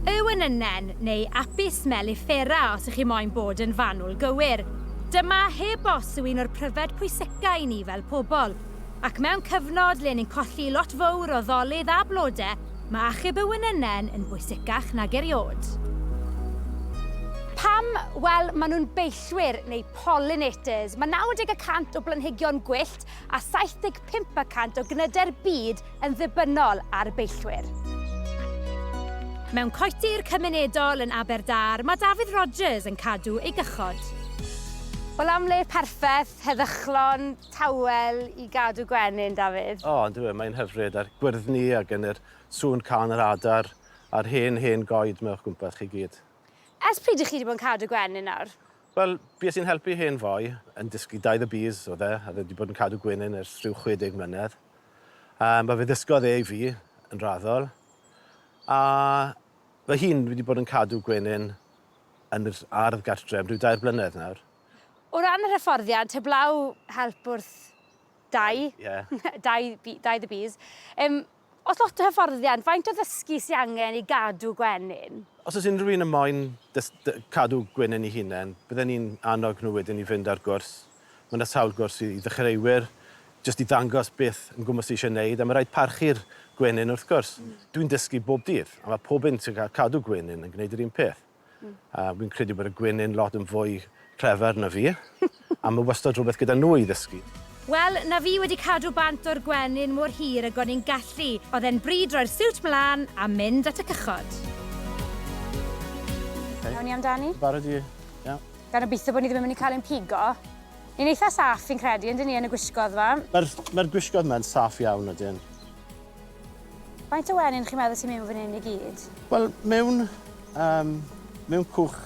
Yw yn ynnen neu Apis mellifera os ych chi moyn bod yn fanwl gywir. Dyma heb os yw un o'r pryfed pwyseca i ni fel pobl. Ac mewn cyfnod le ni'n colli lot fowr o ddolydd a blode, ma achub yw yn ynnen yn bwysecach nag eriod. Pam? Wel, ma nhw'n beillwyr, neu pollinators. Ma 90 y cant o blanhigion gwyllt a 75 y cant o gnyde'r byd yn ddibynnol ar beillwyr. Mewn coetir cymunedol yn Aberdâr mae Dafydd Rogers yn cadw ei gychod. Wel am le perffeth, heddychlon, tawel i gadw gwenyn, Dafydd? O, yndyw e, mae'n hyfryd, a'r gwyrddni a gen i'r sŵn cân yr adar a'r hen, hen goed 'ma o'ch gwmpas chi gyd. Ers pryd 'y chi 'di bod yn cadw gwenyn nawr? Wel, bues i'n helpu hen foi yn dysgu daith y bys, o'dd e, a o'dd e 'di bod yn cadw gwenyn ers rhyw 60 mlynedd. Yym, a fe ddysgodd e i fi, yn raddol. A fy hun, fi 'di bod yn cadw gwenyn yn yr ardd gartre am ryw dair blynedd nawr. O ran yr hyfforddiant, heblaw help wrth dai, dai, dai the bees, yym, oes lot o hyfforddiant, faint o ddysgu sy angen i gadw gwenyn? Os oes unrhyw un yn moyn cadw gwenyn 'i hunen, bydden i'n annog nhw wedyn i fynd ar gwrs Mae yna sawl gwrs i ddechreuwyr, jyst i ddangos beth yn gwmws ti eisiau wneud, a mae'n rhaid parchu'r gwenyn wrth gwrs. Dwi'n dysgu bob dydd, a mae pob un sy'n cael cadw gwenyn yn gwneud yr un peth. A fi'n credu bod y gwenyn lot yn fwy clever na fi, a mae wastad rhywbeth gyda nhw i ddysgu. Wel, na fi wedi cadw bant o'r gwenyn mor hir ag o'n i'n gallu. Oedd e'n bryd roi'r siwt mlaen a mynd at y cychod. Iawn ni amdani? Barod i... Iawn. gan obeithio bod ni ddim yn mynd i cael ein pigo. Ni'n eitha saff fi'n credu, yndyn ni, yn y gwisgoedd 'ma? Mae'r mae'r gwisgoedd 'ma'n saff iawn, ydyn. Faint o wenyn chi'n meddwl sy mewn fan hyn i gyd? Wel, mewn yym mewn cwch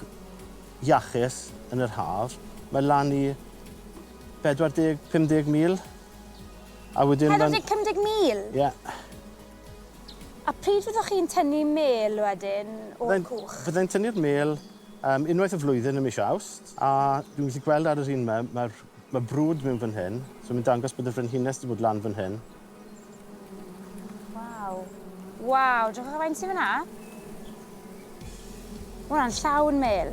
iachus yn yr haf, mae lan i 40, 50 mil. A wedyn ma'n... 40, 50 mil? Ie. A pryd fyddwch chi'n tynnu mêl wedyn o'r cwch? Fyddai'n tynnu'r mêl Yym, unwaith y flwyddyn ym mis Awst, a dwi'n gallu gweld ar yr un 'ma, mae'r, mae brwd mewn fan hyn, so mae'n dangos bod y frenhines wedi bod lan fan hyn. Waw. Waw, drychwch ar faint sy'n fyna. Mae hwnna'n llawn mêl.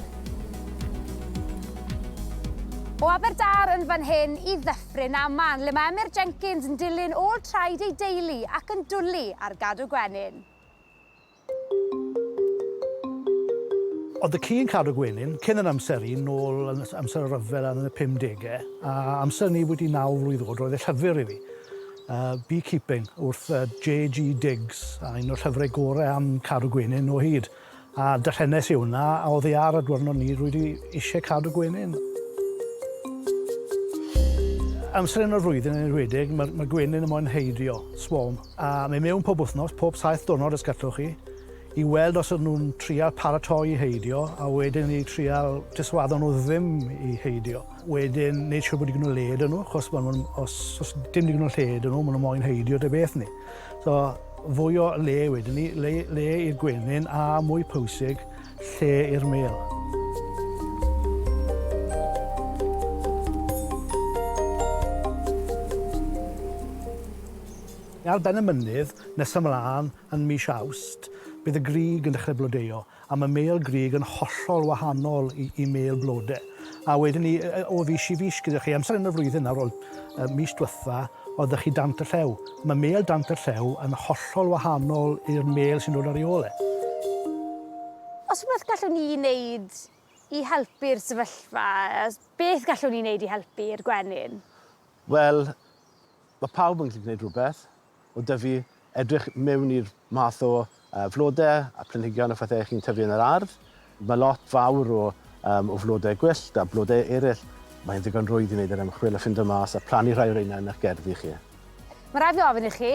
O Aberdâr yn fan hyn i Ddyffryn Aman, le mae Emyr Jenkins yn dilyn ôl traed ei deulu ac yn dwlu ar gadw gwenyn. Oedd y ci yn cadw gwenyn cyn yr amser un nôl yn amser y rhyfel yn y pum degau, a amser ni wedi naw mlwydd oed roedd e llyfr i fi, Bee Keeping, wrth JG Diggs, a un o'r llyfrau gorau am cadw gwenyn o hyd, a darllenes i hwnna a oddi ar y diwrnod ni rwydi eisiau cadw gwenyn. Amser hyn o'r flwyddyn yn enwedig, mae'r gwenyn yn moyn heidio, swarm. A mi mewn pob wythnos, pob saith diwrnod os gallwch chi, i weld os ydyn nhw'n trial paratoi i heidio, a wedyn i trial diswaddo nhw ddim i heidio. Wedyn, neud siwr bod digon o le iddyn nhw, achos ma' nhw'n... os os dim digon o lle iddyn nhw, ma' nhw moyn heidio ta beth ni. So, fwy o le wedyn ni, le le i'r gwenyn, a mwy pwysig, lle i'r mêl. Ar ben y mynydd, nes ymlaen, yn mis Awst, bydd y grug yn dechrau blodeuo, a mae mêl grug yn hollol wahanol i, i mêl blode. A wedyn ni, o fis i fis gyda chi, amser yn y flwyddyn nawr, wel, y mis diwetha, oedd y chi dant y llew. Mae mêl dant y llew yn hollol wahanol i'r mêl sy'n dod ar ei ôl e. Os rhywbeth gallwn ni wneud i helpu'r sefyllfa, beth gallwn ni wneud i helpu'r gwenyn? Wel, Mae pawb yn gallu gwneud rhywbeth, o dyfu, edrych mewn i'r math o flodau a planhigion a phethau chi'n tyfu yn yr ardd. Mae lot fawr o flodau gwyllt a blodau eraill. Mae'n ddigon rwydd i wneud yr ymchwil a ffindo mas a plannu rhai o reina yn eich gerddi chi. Mae rhaid fi ofyn i chi,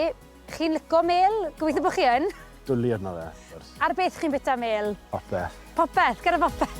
chi'n lico mêl? Gobeithio bod chi yn! Dwli arno fe, wrth gwrs. Ar beth chi'n bwyta mêl? Popeth. Popeth, gyda phopeth.